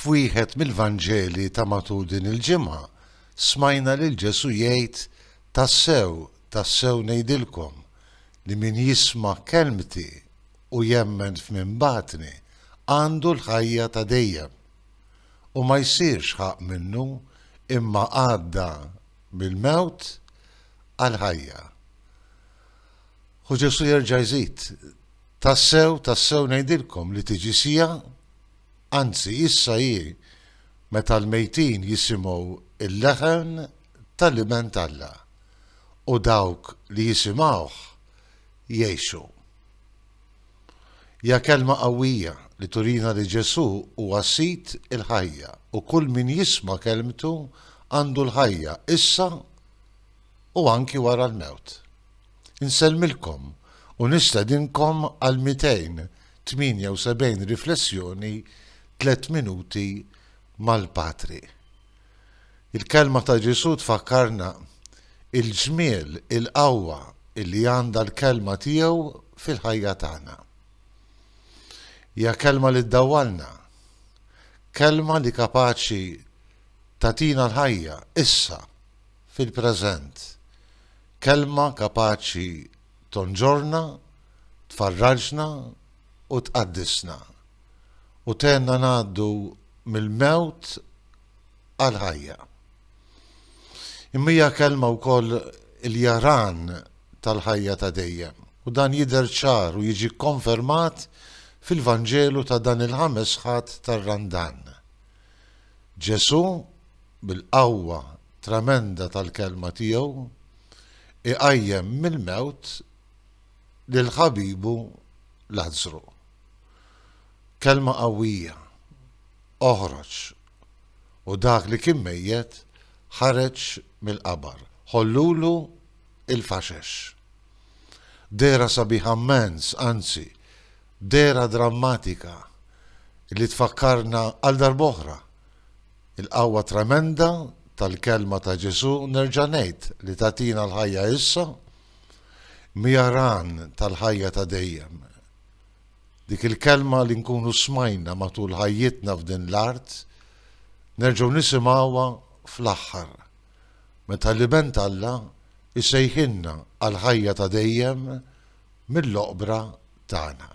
F'wieħed mill-Vanġeli ta' matul din il-ġimgħa, smajna lil Ġesù jgħid, Tassew, tassew ngħidilkom, li min jisma' kelmti u jemmen f'min bagħatni, għandu l-ħajja ta' dejjem, u ma jsirx ħaqq minnu, imma għadda mill-mewt għall-ħajja. U Ġesù jerġa' jżid, Tassew, tassew ngħidilkom li tiġi siegħa, anzi issa hi, meta l-mejtin jisimgħu l-leħen tal-Iben t'Alla, u dawk li jisimgħuh jgħixu. Hija kelma qawwija li turina li Ġesù huwa Sid il-ħajja u kull min jisma' kelmtu għandu l-ħajja issa u anki wara l-mewt. Insellmilkom u nistedinkom għal 278 riflessjoni Tliet Minuti mal-Patri. Il-kelma ta' Ġesù tfakkarna il-ġmiel, il-qawwa li għandha l-kelma tiegħu fil-ħajja tagħna. Hija kelma li ddawwalna, kelma li kapaċi tagħtina l-ħajja issa, fil-preżent. Kelma kapaċi tonġorna, tfarraġna u tqaddisna, u tgħinna ngħaddu mill-mewt għall-ħajja. Imma hija kelma wkoll il-jaran tal-ħajja ta' dejjem, u dan jidher ċar u jiġi kkonfermat fil-Vanġelu ta' dan il-Ħames Ħadd tar-Randan. Ġesù, bil-qawwa tremenda tal-Kelma tiegħu, iqajjem mill-mewt lil ħabibu Lazzru. Kelma qawwija, Oħroġ! U dak li kien mejjet ħareġ mill-qabar. Ħollulu l-faxex. Dehra sabiħa mmens, anzi, Dehra drammatika li tfakkarna għal darb'oħra l-qawwa tremenda tal-kelma ta' Ġesù, nerġa' ngħid, li tagħtina l-ħajja issa, miha għan tal-ħajja ta' dejjem. Dik il-kelma li nkunu smajna matul ħajjitna f'din l-art, nerġgħu nisimgħuha fl-aħħar, meta l-Iben t'Alla jsejħilna għall-ħajja ta' dejjem mill-oqbra tagħna.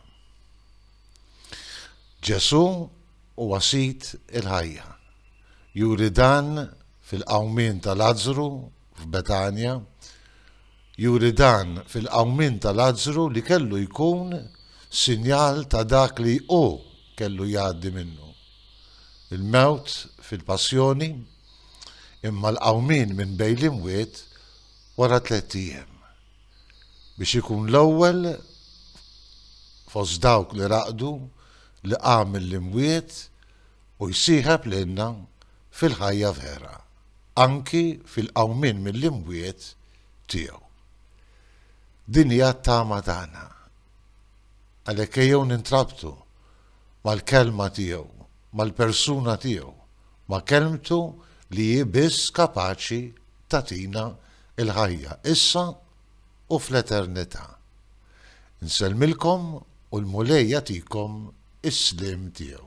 Ġesù huwa Sid il-ħajja. Juri dan fil-qawmien ta' Lazzru f'Betanja, juri dan fil-qawmien ta' Lazzru li kellu jkun sinjal ta' dak li hu kellu jgħaddi minnu, il-mewt fil-passjoni, imma l-qawmien minn bejn l-imwiet wara tlett ijiem. biex ikun l-ewwel fost dawk li raqdu li qam mill-imwiet u jsieħeb lilna fil-ħajja vera, anki fil-qawmien mill-imwiet tiegħu. Din hija t-tama tagħna. Għalhekk ejjew nintrabtu mal-kelma tiegħu, mal-persuna tiegħu, ma' kelmtu li hi biss kapaċi tagħtina il-ħajja issa u fl-eternità. Insellmilkom u l-Mulej jagħtikom is-sliem tiegħu.